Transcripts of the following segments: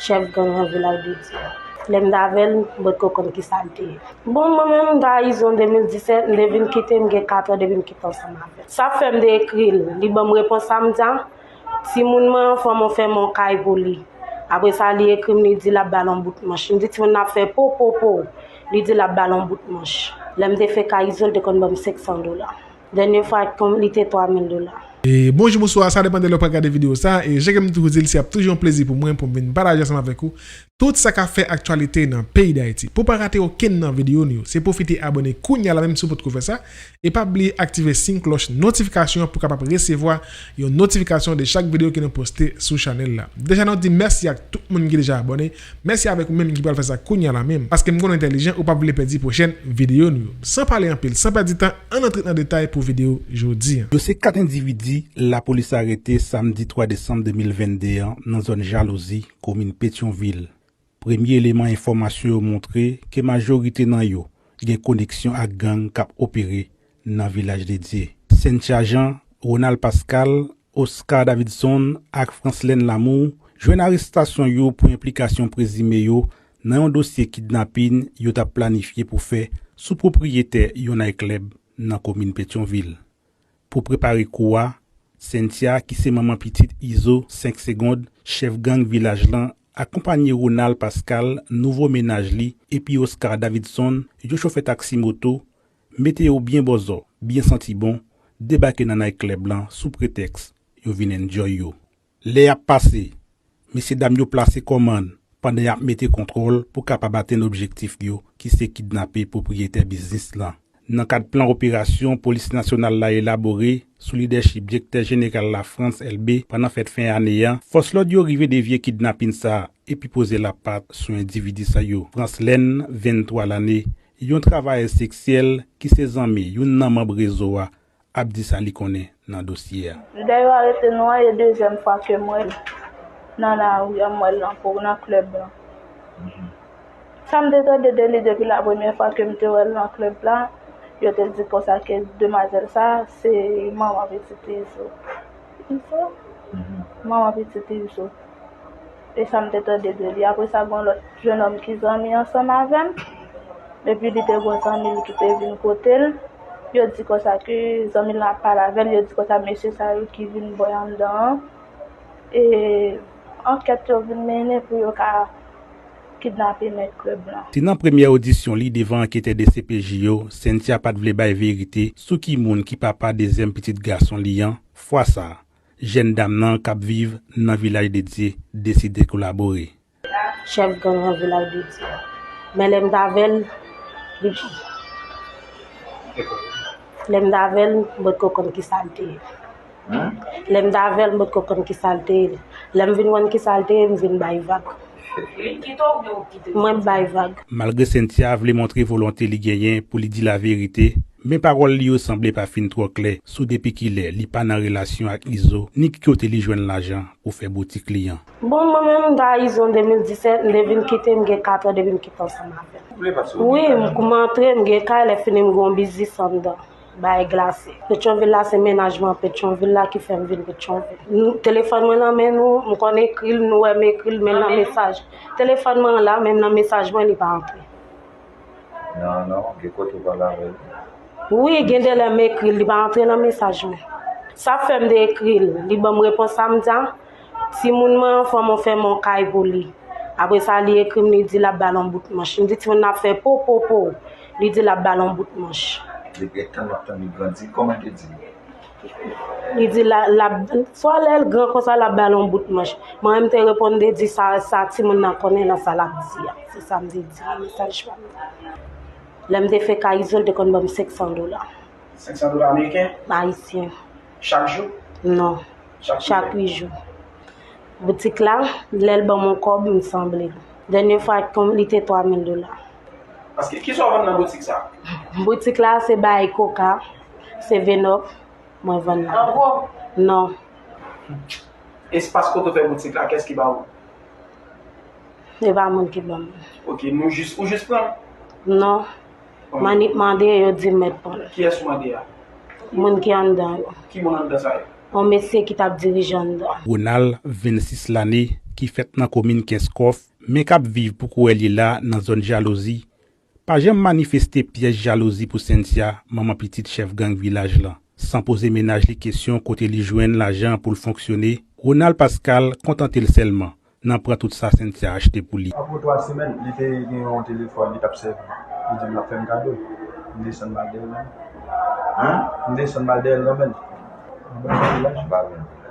chèf gang an vil Haïbédian. Lè m t avè l, m potko konn ki sa l te ye. Bon, mwen menm m t Ayizon 2017, m te vin kite, m gen 4 an depi m kite ansanm avè l. Sa fè m te ekri l, li ban m repons sa, m di a, timoun mwen an fè mwen fè yon kay pou li. Apre sa, li ekri m, li di l ap ba l yon bout manch. M di timoun nan ap fè po, po, po. Li di l ap ba l yon bout manch. Lè m te fenk Ayizon, l te konn ban m 500 dola. Dènye fwa ak pom li te 3000 dola. Bonjou bonswa sa depan de lè ou pral gade video sa e jan kem toujou dil se ap toujou yon plezi pou mwen poum vin pataje ansanm avèk ou tout sa kap fè aktyalite nan peyi dayiti pou pa rate okenn nan video nou yo se pwofite abòne kounya la menm si ou potko fè sa e pa bliye aktive sin klòch notifikasyon an pou kapab resevwa yon notifikasyon de chak video ke nou poste sou chanèl la deja nou di mèsi ak tout moun ki deja abòne Mèsi avèk ou menm ki pral fè sa kounya la menm paskem konn ou entèlijan ou pap vle pèdi pwochèn videyo nou yo. San pale anpil, san pèdi tan ann antre nan detay pou videyo jodi an. Dosye 4 endividi lapolis arete samdi 3 desanm 2022 an nan zòn Jalouzi, komin Petyonvil. Premye eleman enfòmasyon yo montre ke majorite nan yo gen koneksyon ak gang k ap opere nan Vilaj de Dye. Cynthia Jean, Ronald Pascal, Oscar Davidson ak Franslène Lamour jwenn arestasyon yo pou enplikasyon prezime yo nan yon dosye kidnapin yo t ap planifye pou fè sou pwopriyetè yon nayklèb nan komin Petyonvil. Pou prepare kou a, Cynthia ki se manman pitit Izo 5 segond, chèf gang Vilaj lan, akonpanye Ronald Pascal, nouvo mennaj li, epi Oscar Davidson, yon chofè taksi moto, Mete yo byen bòzò, byen santi bon, debake nan night club lan sou pretèks yo vin enjoy yo. Lè ap pase, mesye dam yo plase kòmann pandan y ap mete kontwòl pou kapab atenn objektif yo ki se kidnape pwopriyetè biznis lan. Nan kad plan operasyon Polis Nasyonal la elabore sou lidèchip Dyektè Jeneral la Frantz Elbé pandan fèt fen ane a, fòs lòd yo rive devye kidnapin sa epi poze lapat sou endividi sa yo. Franslène, 23 lane, Yon travayèz seksyèl ki se zanmi youn nan manb rezo a ap di sa li konnen nan dosye a. Lè yo arete nou an e dezyèm fwa ke m wè l nan lari an, m wè l nan kour, nan klèb lan. Sa m te tande de li depi la premyè fwa ke m te wè l nan klèb la, yo te di konsa ke demwazèl sa a se manman pitit Izo. Izo? Manman pitit Izo. e sa m te tande de li. Apre sa, gen yon lòt jenòm ki zanmi ansanm avè m, epi li te gen yon zanmi l ki te vin kote l. Yo di konsa ke zanmi l lan ap pale avè l, yo di konsa mesye sa yo ki vin bo anndan an, e ankèt yo vin mennen pou yo ka kidnape mèt klèb lan. Se nan premyè odisyon li devan anketè dcpj yo, Cynthia pa t vle bay verite sou ki moun ki papa dezyèm pitit gason li an, fwa sa a, Jèn dam nan kap viv nan vilaj de Dye deside kolabore. Chèf gang nan vilaj de Dye. Men lèm t avèl Lèm t avèl m pot ko konn kisal te ye Lèm t avèl m pot ko konn kisal te ye Lèm vin konn kisal te ye m vin bay vag Mwen bay vag. Malgre Cynthia vle montre volonte li genyen pou li di laverite, Men pawòl li yo sanble pa fin twò klè sou depi kilè li pa nan relasyon ak Izo ni ki kote li jwenn lajan pou fè boutik li an. Bon mwen menm mta izo 2017 mte vin kite mgen 4 an depi mkite ansanm avèl wi mkman antre mgen kay lè fini mgon biznis anndan bay glase petyonvil la se mennaj mwen petyonvil la ki fèm vin petyonvil telefòn mwen nan men nou mkonn ekril nou wèm ekril menm nan mesaj telefòn mwen la menm nan mesaj mwen li pa antre. Nan nan gen kote ou pa lave l. Wi gen de lè m ekri l li pa antre nan mesaj mwen sa fè m de ekri l li banm repons a m di a timoun mwen an fò m ou fè m on kay pou li apre sa li ekri m li di lap ba l on bout manch m di timoun nan ap fè po po po li di lap ba l on bout manch. Li gentan map tann li grandi kòman te di. Li di la, lap, swa lè l gran konsa lap ba l yon bout manch. Mwen menm te reponn de di sa, sa timoun nan konnen nan sa lap di a. Se sa m te di nan mesaj pa m nan. Lè m te fè ka Izo l te konn ban m 500 dola. 500 dola ameriken? Ayisyen. Chak jou? Non. Chak kilè? Chak 8 jou. Boutik la, lè l ban m yon kòb, m sanble l. Dènye fwa l konn, li te 3000 dola. Paske, kisa w vann nan boutik sa? Boutik la se bay koka, Se Venop mwen vann la. An gwo? Non. Espas kote w fè boutik la, kès ki ba ou? Se pa moun ki ban mwen. Ok, nou jis, ou jis pran? Non. Mwen ni mande, yo di m mèt pran. Kiyès ou mande a? Moun ki anndan yo. Ki moun anndan sa yo? Yon mesye ki t ap dirije anndan. Ronald, 26 lane, ki fèt nan komin Kenskòf, men k ap viv pou kouwè li la nan zòn Jalouzi, Pa janm manifeste pyès jalouzi pou Cynthia, manman pitit chèf gang vilaj lan. San poze mennaj li kesyon kote li jwenn lajan pou l fonksyone, Ronald Pascal kontante l sèlman nan pran tout sa Cynthia achte pou li. Apre twa semèn, li te gen yon telefòn li t ap sèvi. Li di m l ap fè m kado. M desann m al dèyè l nan men l. M desann m al dèyè l nan men l. Mwen ba l yon vilaj.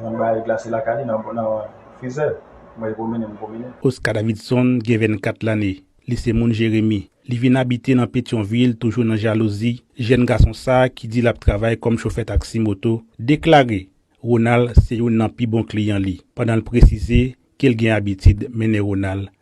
Mwen bay glase lakay li nan frizè. Mwen pwomennen m pwomennen. Oscar Davidson gen 24 lane, li se moun Jeremi. Li vin abite nan Petyonvil toujou nan jalouzi, jèn gason sa ki di l ap travay kòm chofè taksi moto, deklare Ronald se youn nan pi bon kliyan li, pandan l presize ke l gen abitid mennen Ronald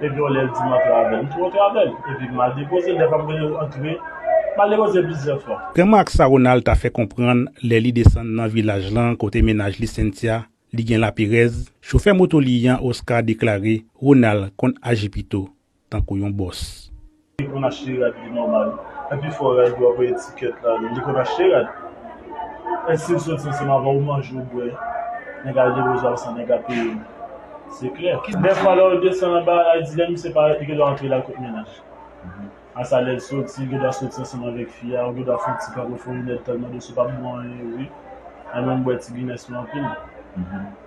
Epi yon lè l di m antre avè l. M tou antre avè l. Epi m al depoze l. Dèfwa m rele l antre. M al depoze l plizyè fwa. Grangman ak sa Ronald ta fè konprann lè li desann nan vilaj lan kote mennaj li Cynthia li gen laperèz, chofè moto li an Oscar deklare Ronald konn aji pito tankou yon bòs. Li konn achte rad li nòmal. Epi fò rad yo ap etikèt la li konn achte rad. Estil soti ansanm avè w manje w bwè nèg al depoze w al san nèg a peye w se klè. Dèfwa lè w desann anba al di lè misye parèt li gendwa antre lal kot mennaj. A sa lèl soti li gendwa soti ansanm avèk fi a ou gendwa fon ti kanpe fon rinèd tèlman dous ou pap bon anyen wi. Mwen menm m bwè ti Guinness mwen anpil.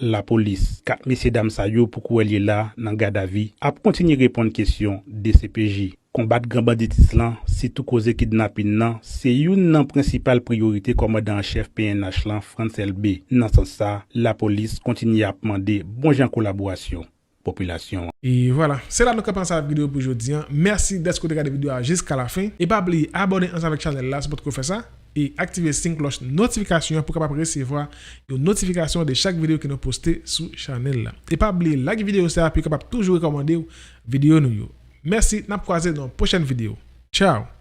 Lapolis. 4 mesye dam sa yo pou kouwèl ye la nan gadavi ap kontinye reponn kesyon dcpj. Konbat gran banditis lan, sitou koze kidnapin nan, se youn nan prensipal priyorite kòmandan an chèf pnh lan Frantz Elbé. Nan sans sa, Lapolis kontinye ap mande bon jan kolaborasyon. popilasyon an. E vwala, se la nou kanpe ansanm avèk videyo pou jodi an. Mèsi dèske ou te gade videyo a jiska lafen. E pa bliye abòne ansanm avèk chanèl la si w potko fè sa, e aktive sin klòch notifikasyon an pou w kapab resevwa yon notifikasyon de chak videyo ke nou poste sou chanèl la. E pa bliye like videyo sa pou yo kapab toujou rekòmande w videyo nou yo. Mèsi, n ap kwaze nan yon pwochèn videyo. Tchaw!